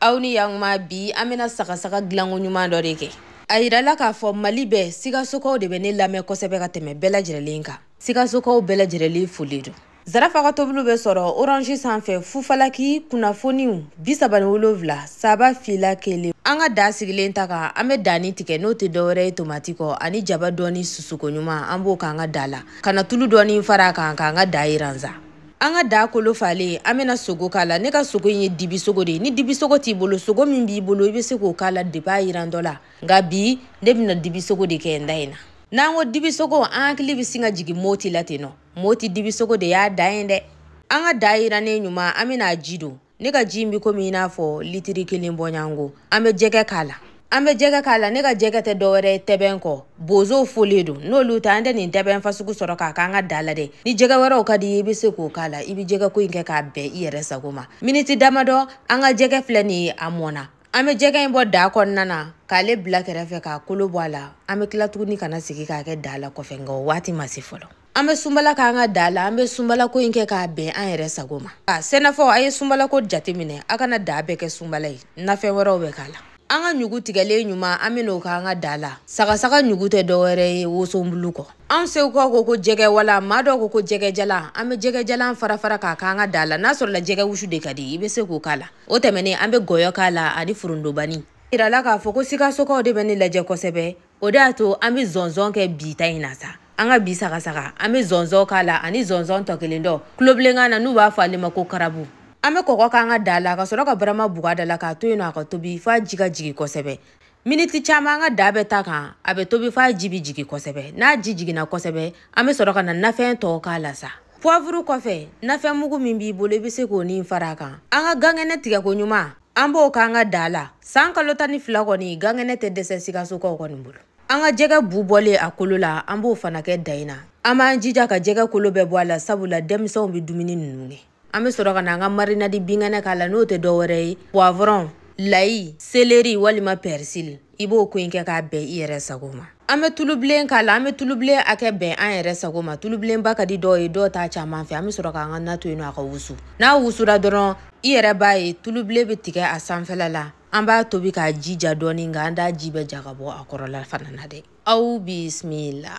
aw ni yankuma bi an bɛna sagasaga gilanko ɲuman dɔ de kɛ a yirala k'a fɔ mali bɛɛ sikasokaw de bɛ ne lamɛn kosɛbɛ ka tɛmɛ bɛɛ lajɛrɛlen kan sikasokaw bɛɛ lajɛrɛlen folen don zarafa ka tobiliw bɛ sɔrɔ orange sanfɛ fufalaki kunnafoniw bi saba ni wolonwula saba fila kelen an ka daa sigilen ta kan an bɛ danni tigɛ n'o tɛ dɔwɛrɛ ye tomati kɔ ani jaba dɔɔni susuko ɲuman an b'o k'an ka daa la ka na tulu dɔɔni fara a kan k'an ka daa yiran sa an ka daa kolo falen an bɛna sogo k'a la ne ka sogo in ye dibi sogo de ye ni dibi sogo t'i bolo sogo min b'i bolo i bɛ se k'o k'a la depi a yirantɔ la nka bi ne bɛna dibi sogo de kɛ n daa in na n'an ko dibi sogo an hakili bɛ sin ka jigin moti la ten nɔ moti dibi sogo de y'a dan ye dɛ an ka daa yirannen ɲuman an bɛna a ji don ne ka ji in bɛ komi i n'a fɔ litiri kelen bɔɲanko an bɛ jɛgɛ k'a la an bɛ jɛgɛ k'a la ne ka jɛgɛ tɛ dɔwɛrɛ ye tɛbɛn kɔ bozow folen don n'olu tɛ an tɛ nin tɛbɛn fasugu sɔrɔ k'a k'an ka daa la dɛ ni jɛgɛ wɛrɛw ka di i ye i bɛ se k'o k'a la i bɛ jɛgɛ ko in kɛ k'a bɛn i yɛrɛ sago ma miniti damadɔ an ka jɛgɛ filɛ nin ye a mɔna an bɛ jɛgɛ in bɔ daa kɔnɔna na k'ale bila kɛrɛfɛ k'a kolo bɔ a la an bɛ tila tuguni ka na segin k'a kɛ daa la kɔfɛ nka o waati ma se fɔlɔ an bɛ sunbala k'an ka daa la an bɛ sunbalako in kɛ k'a bɛn an yɛrɛ sago ma a sɛnɛfɔw a ye sunbalako jateminɛ a kana daa bɛɛ kɛ sunbala ye nafɛn wɛrɛw bɛ k'a la an ka ɲugu tigɛlen ɲuman an bɛn'o k'an ka daa la sagasaga ɲugu tɛ dɔwɛrɛ ye wosonbulu kɔ anw segukaw ko ko jɛgɛ wala maa dɔw ko ko jɛgɛjalan an bɛ jɛgɛjalan farafara k'a k'an ka daa la n'a sɔrɔla jɛgɛ wusu de ka di i bɛ se k'o k'a la o tɛmɛnen an bɛ gɔyɔ k'a la ani forontobanin yirala k'a fɔ ko sikasokaw de bɛ ne lajɛ kosɛbɛ o de y'a to an bɛ zɔnzɔn kɛ bi ta in na sa an ka bi sagasaga an bɛ zɔnzɔn k'a la ani zɔnzɔn tɔ kelen dɔ tulobilenkan na n'u b'a fɔ ale ma ko karabu an bɛ kɔgɔ k'an ka daa la ka sɔrɔ ka barama bugu a da la k'a to yen nɔ a ka tobi f'a ji ka jigin kosɛbɛ miniti caman an ka daa bɛ ta kan a bɛ tobi f'a ji bɛ jigin kosɛbɛ n'a ji jiginna kosɛbɛ an bɛ sɔrɔ ka na nafɛn tɔw k'a la sa puwavuru kɔfɛ nafɛn mugu min b'i bolo i bɛ se k'o ni fara a kan an ka gankɛnɛ tigɛko ɲuman an b'o k'an ka daa la san kalo tan ni fila kɔni gankɛnɛ tɛ dɛsɛ sikasokaw kɔni bolo an ka jɛgɛ bu bɔlen a kolo la an b'o fana kɛ daa in na an b'an jija ka jɛgɛ kolo bɛɛ bɔ a la sabula denmisɛnw bɛ dumuni ninnu kɛ an bɛ sɔrɔ ka na an ka marinadi binkɛnɛ k'a la n'o tɛ dɔ wɛrɛ ye poivron layi seleri walima pɛrisili i b'o ko in kɛ k'a bɛn i yɛrɛ sago ma an bɛ tulubilen k'a la an bɛ tulubilen hakɛ bɛn an yɛrɛ sago ma tulubilenba ka di dɔw ye dɔw t'a caman fɛ an bɛ sɔrɔ k'an ka na to yen nɔ a ka wusu n'a wusura dɔrɔn i yɛrɛ b'a ye tulubilen bɛ tigɛ a sanfɛla la an b'a tobi k'a ji ja dɔɔni nka an t'a ji bɛɛ ja ka bɔ a kɔrɔla fana na dɛ aw bisimila